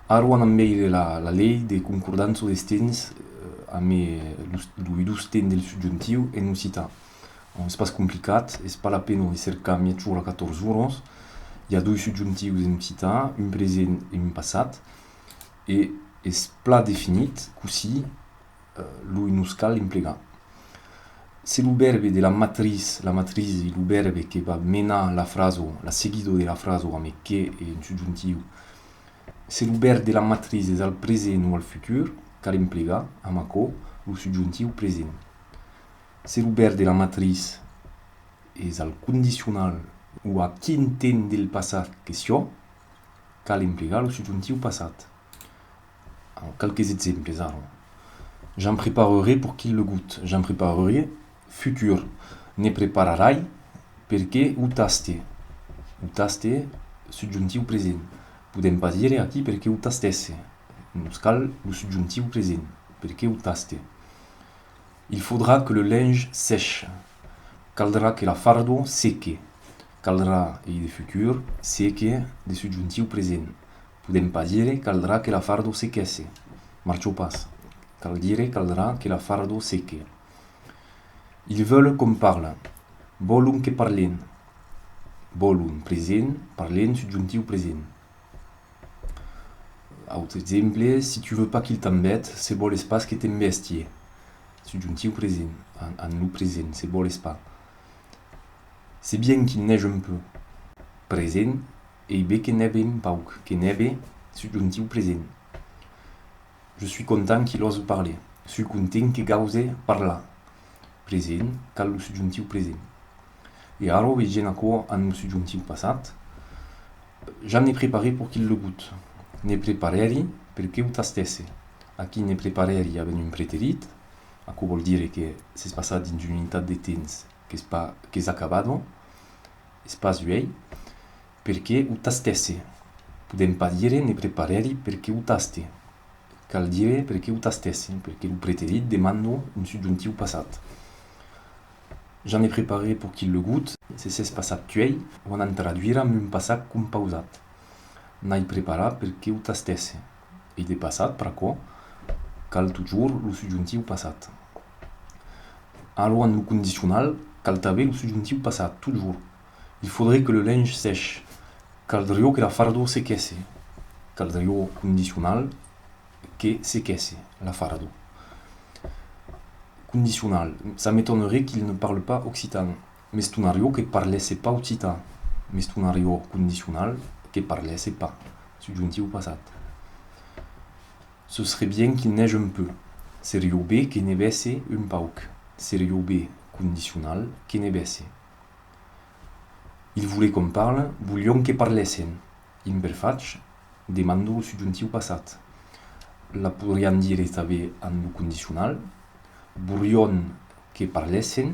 Arwan amb eire la lei de concordanço des tens amb lo idus ten del subjuntiu en occitan. Ont es pas complicat, es pas la pena de cercar miètjor a 14 oros. I a doi subjuntius en occitan, un present e un passat, e es plan definit cossí. lo i nos cal emplegar. Se lo vèrbe de la matris, la matrisi, lo vèrbe que va menar la fraso, la seguido de la fraso amb que e un subjuntiu, se lo vèrbe de la matris es al present o al futur, cal emplegar, amb aquò, lo subjuntiu present. Se lo vèrbe de la matris es al condicional o a quin temps del passat que sió, cal emplegar lo subjuntiu passat. Alors, quelques exemples, ara. J'en preparerai pour qu'il le goûte. J'en preparerai, futur. Ne prepararai, perqué o taste. O taste, subjonctiu present. Podem pas dire aquí perqué o tastèsse. Nos cal lo subjonctiu present. Perqué o taste. Il faudra que le linge sèche. Caldrà que la fardó seque. Caldrà ei de futur, se que de subjuntiu present. Podem pas dire caldrà que la fardo se quèsse. Marchau pas. Cal dire caldrà que la fardo se que. Ils veulent qu'on parle. Vòlon que parlem. Vòlon, present, parlem, subjuntiu present. Autre exemple, Si tu veux pas qu'il t'embête, se vòles pas que t'embèstie. Subjuntiu present, en lo present, se vòles pas. Se bien qu'il neige un peu. Present, ei be que nève un pauc, que nève, subjuntiu present. Je suis content qu'il ose parler. Sui content que gause parlar. Present, cal lo subjuntiu present. E ara vegem aquò amb lo subjuntiu passat. Ja ne preparè pour qu'il le goute. Ne preparèri per que o tastèsse. Aquí ne preparèri avèm un preterit. Aquò vòl dire que s'es passat dins una unitat de temps qu'es pas qu'es acabada, es pas uèi, perque o tastèsse. Podèm pas dire ne preparèri perque o taste. Cal dire perque o tastèsse, perque lo preterit demanda un subjuntiu passat. Ja ne preparè pòc ilegut, se s'es passat uèi, o anam traduire amb un passat compausat. N'ai preparat perque o tastèsse. e de passat pr'aquò cal totjorn lo subjuntiu passat. Alò en lo condicional cal tanben lo subjuntiu passat totjorn. Il faudrait que le linge sèche. Caldrió que la fardor sequèsse. Caldrió condicional que sequèsse la fardor. Condicional, ça m'étonnerait qu'il ne parle pas occitan. Mestonariò que parlèsse pas occitan. Mestonariò condicional que parlèsse pas, subjuntiu passat. Ce serait bien qu'il neige un peu. Serió be que nevèsse un pauc. Serió be, condicional, que nevèsse. Ils voulaient qu'on parle, volion que parlèssen. Imperfach, demando lo subjuntiu passat. La podrián dire tanben en lo condicional. Volion que parlèssen,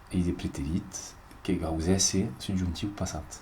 Ei de preterit que gausèsse subjuntiu passat.